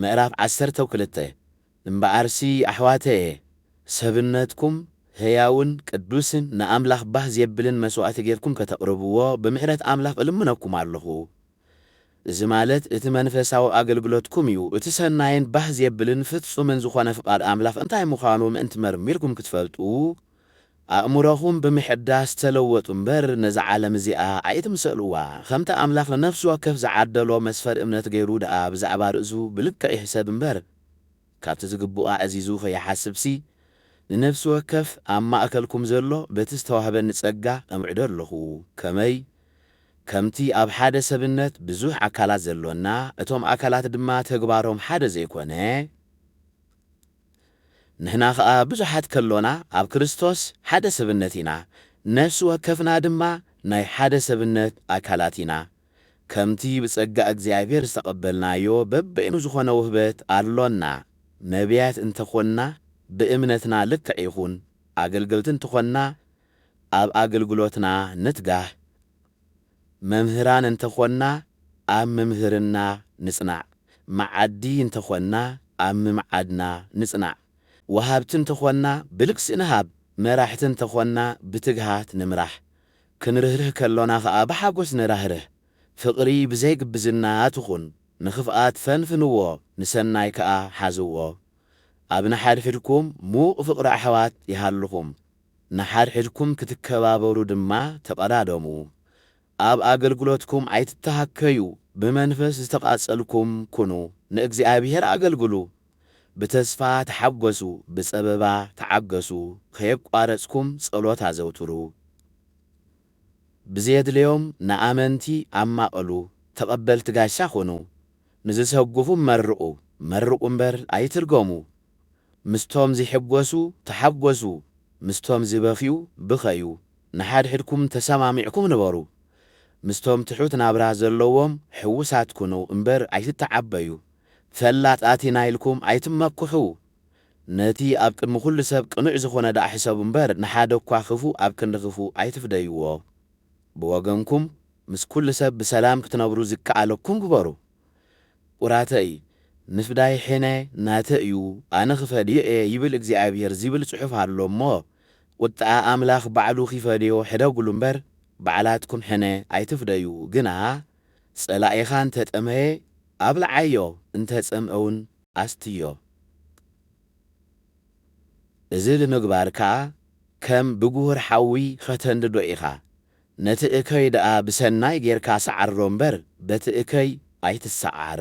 ምዕራፍ ዓሰርተው ክልተ እምበኣርሲ ኣሕዋተየ፣ ሰብነትኩም ህያውን ቅዱስን ንኣምላኽ ባህ ዜብልን መስዋእቲ ጌርኩም ከተቕርብዎ ብምሕረት ኣምላኽ እልምነኩም ኣሎኹ። እዚ ማለት እቲ መንፈሳዊ ኣገልግሎትኩም እዩ። እቲ ሰናይን ባህ ዜብልን ፍጹምን ዝዀነ ፍቓድ ኣምላኽ እንታይ ምዃኑ ምእንቲ መርሚርኩም ክትፈልጡ፣ ኣእምሮኹም ብምሕዳስ ተለወጡ እምበር ነዛ ዓለም እዚኣ ኣይትምሰልዋ። ከምቲ ኣምላኽ ንነፍሲ ወከፍ ዝዓደሎ መስፈሪ እምነት ገይሩ ደኣ ብዛዕባ ርእሱ ብልክዕ ይሕሰብ እምበር፣ ካብቲ ዝግብኦ ኣዕዚዙ ከይሓስብሲ፣ ንነፍሲ ወከፍ ኣብ ማእከልኩም ዘሎ በቲ ዝተዋህበኒ ጸጋ እምዕዶ ኣሎኹ። ከመይ? ከምቲ ኣብ ሓደ ሰብነት ብዙሕ ኣካላት ዘሎና፣ እቶም ኣካላት ድማ ተግባሮም ሓደ ዘይኮነ፣ ንሕና ኸኣ ብዙሓት ከሎና ኣብ ክርስቶስ ሓደ ሰብነት ኢና፣ ነፍሲ ወከፍና ድማ ናይ ሓደ ሰብነት ኣካላት ኢና። ከምቲ ብጸጋ እግዚኣብሔር ዝተቐበልናዮ በበይኑ ዝኾነ ውህበት ኣሎና፣ ነቢያት እንተ ኾንና ብእምነትና ልክዕ ይኹን፣ ኣገልገልቲ እንተኾንና ኣብ ኣገልግሎትና ንትጋህ፣ መምህራን እንተ ዀንና፣ ኣብ ምምህርና ንጽናዕ፣ መዓዲ እንተ ዀንና፣ ኣብ ምምዓድና ንጽናዕ፣ ወሃብቲ እንተ ዀንና፣ ብልግሲ ንሃብ፣ መራሕቲ እንተ ዀንና፣ ብትግሃት ንምራሕ፣ ክንርህርህ ከሎና ኸኣ ብሓጐስ ንራህርህ፣ ፍቕሪ ብዘይ ግብዝና ትኹን፣ ንኽፍኣት ፈንፍንዎ፣ ንሰናይ ከኣ ሓዝዎ። ኣብ ንሓድሕድኩም ምዉቕ ፍቕሪ ኣሕዋት ይሃልኹም፣ ንሓድሕድኩም ክትከባበሩ ድማ ተቐዳደሙ። ኣብ ኣገልግሎትኩም ኣይትተሃከዩ፣ ብመንፈስ ዝተቓጸልኩም ኩኑ፣ ንእግዚኣብሄር ኣገልግሉ። ብተስፋ ተሓጐሱ፣ ብጸበባ ተዓገሱ፣ ከየቋረጽኩም ጸሎት ኣዘውትሩ። ብዘየድለዮም ንኣመንቲ ኣማቐሉ፣ ተቐበልቲ ጋሻ ኹኑ፣ ንዝሰጉኹም መርቑ፣ መርቑ እምበር ኣይትርገሙ፣ ምስቶም ዚሕጐሱ ተሓጐሱ፣ ምስቶም ዚበኽዩ ብኸዩ፣ ንሓድሕድኩም ተሰማሚዕኩም ንበሩ፣ ምስቶም ትሑት ናብራ ዘለዎም ሕዉሳት ኩኑ እምበር ኣይትተዓበዩ፣ ፈላጣት ኢና ኢልኩም ኣይትመክሑ፣ ነቲ ኣብ ቅድሚ ዅሉ ሰብ ቅኑዕ ዝዀነ ደኣ ሕሰቡ እምበር፣ ንሓደ እኳ ኽፉእ ኣብ ክንዲ ኽፉእ ኣይትፍደይዎ። ብወገንኩም፣ ምስ ኵሉ ሰብ ብሰላም ክትነብሩ ዚከኣለኩም ግበሩ። ቍራተይ፣ ምፍዳይ ሕነ ናተይ እዩ፣ ኣነ ኽፈድዮ እየ ይብል እግዚኣብሄር ዚብል ጽሑፍ ኣሎ እሞ፣ ቝጥዐ ኣምላኽ ባዕሉ ኺፈድዮ ሕደጉሉ እምበር፣ ባዕላትኩም ሕነ ኣይትፍደዩ። ግና፣ ጸላኢኻ እንተ ጠመየ፣ ኣብልዓዮ፣ እንተ ጸምኤውን፣ ኣስትዮ። እዚ ብምግባርካ ከም ብጉሁር ሓዊ ኸተንድዶ ኢኻ። ነቲ እከይ ደኣ ብሰናይ ጌርካ ሰዓሮ እምበር በቲ እከይ ኣይትሰዓር።